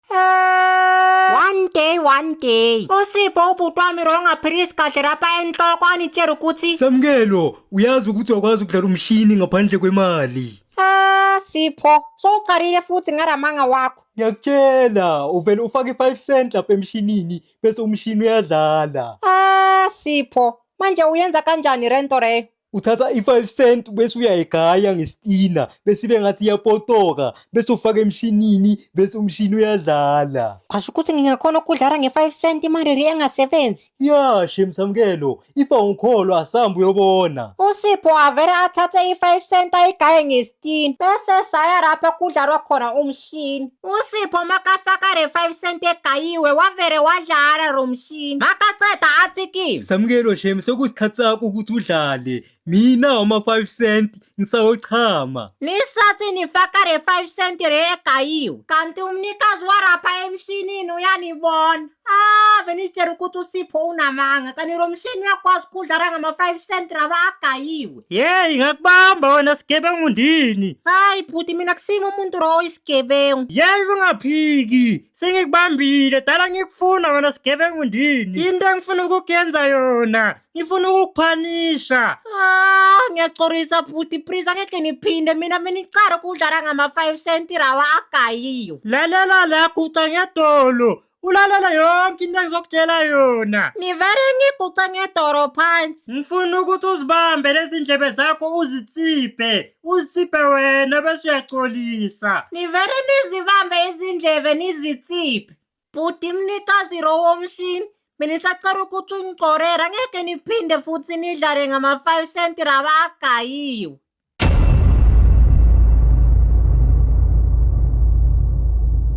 one day one day usipho ubhuti wami rongaphilisi kahle lapha enhloko anitshela ukuthi samukelo uyazi ukuthi wakwazi ukudlala umshini ngaphandle kwemali ah sipho sowuqalile futhi ngaramanga wakho ngiyakutshela uvele ufake i-five cent lapha emshinini bese umshini uyadlala ah sipho manje uyenza kanjani rento reyo uthatha i-five cent bese uyayigaya ngesitina bese ibe ngathi iyapotoka bese ufaka emshinini bese umshini uyadlala Kwasho ukuthi ngingakhona ukudlala nge-5 cent imariri engasebenzi. ya shem samukelo ifa ungikholo asambe uyobona USipho avele athathe i-5 cent ayigaye ngesitini bese saya lapho kudlalwa khona umshini. Usipho makafaka re 5 cent egayiwe wavere wadlala lo mshini makaceda athi kimi Samukelo shem sekusikhathi sakho ukuthi udlale. Mina uma 5 cent ngisayochama. nisathi nifaka re 5 cent re egayiwe kanti umnikazi warapha emshinini uyanibona ah benitshela ukuthi usipho unamanga kanti lo mshini uyakwazi ukudlala ngama-5 cent raba agayiwe Yeyi ngakubamba wena sigebengu ndini. Hayi bhuti mina kusimi umuntu ro oyisigebengu. Yeyi ungaphiki sengikubambile dala ngikufuna wena sigebengu ndini. Into engifuna ukukuyenza yona ngifuna ukukuphanisha. Ah, ngiyacorisa bhuti please angeke niphinde mina benicare ukudlala ngama-5 cent rawa agayiyo. Lalela la guca ngedolo ulalele yonke into engizokutshela yona ngivele ngiguce ngedoro phansi ngifuna ukuthi uzibambe lezi ndlebe zakho uzitsiphe uzitsiphe wena bese uyacolisa ngivele nizibambe izindlebe nizitsiphe bhuti mnikazi ro womshini mina isacela ukuthi ungigcorera ngeke niphinde futhi nidlale ngama-five cent raba agayiwe